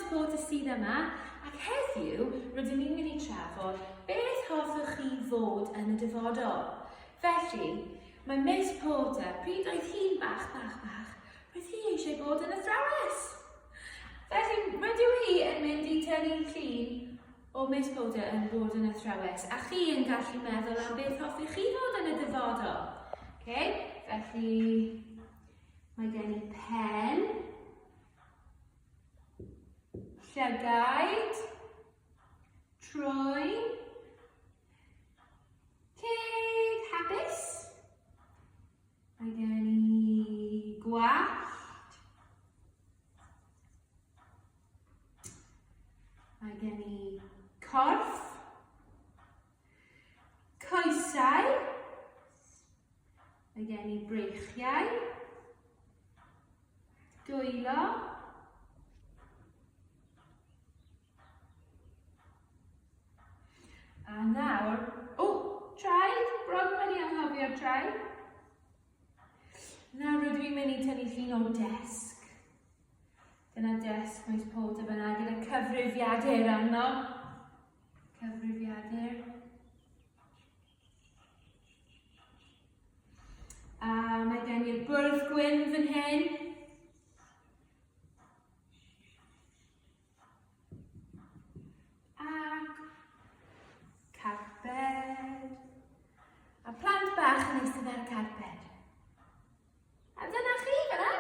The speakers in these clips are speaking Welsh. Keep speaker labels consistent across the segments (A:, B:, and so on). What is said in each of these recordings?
A: Porter sydd yma ac heddiw rydyn ni'n mynd i trafod beth hoffech chi fod yn y dyfodol. Felly, mae Miss Porter, pryd oedd hi'n bach, bach, bach, roedd hi eisiau bod yn athrawes. Felly, rydw i yn mynd i tynnu llun o Miss Porter yn bod yn athrawes, a chi yn gallu meddwl am beth hoffech chi fod yn y dyfodol. Okay? Felly, Mae gen i pen, llygaid, trwy, ceg, hapus. Mae gen i gwallt. Mae gen i corff. Coesau. Mae gen i breichiau. Dwylo. A nawr, o, traed, bron wedi anghofio'r traed. Nawr rydw i'n mynd i tynnu llun o desg. Dyna des pwynt pob dim yna gyda cyfrifiadur arno. Cyfrifiadur. A mae gen i'r bwrdd gwyn fan hyn. Ac carped. A plant bach yn eistedd ar y carped. A dyna chi fyna.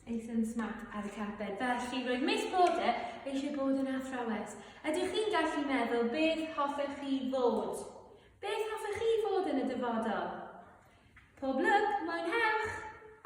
A: Ethan Smart ar y carped. Felly, roedd Miss Porter eisiau bod yn athrawes. Ydych chi'n gallu meddwl beth hoffech chi fod? Beth hoffech chi fod yn y dyfodol? Pob lwc, mwynhewch!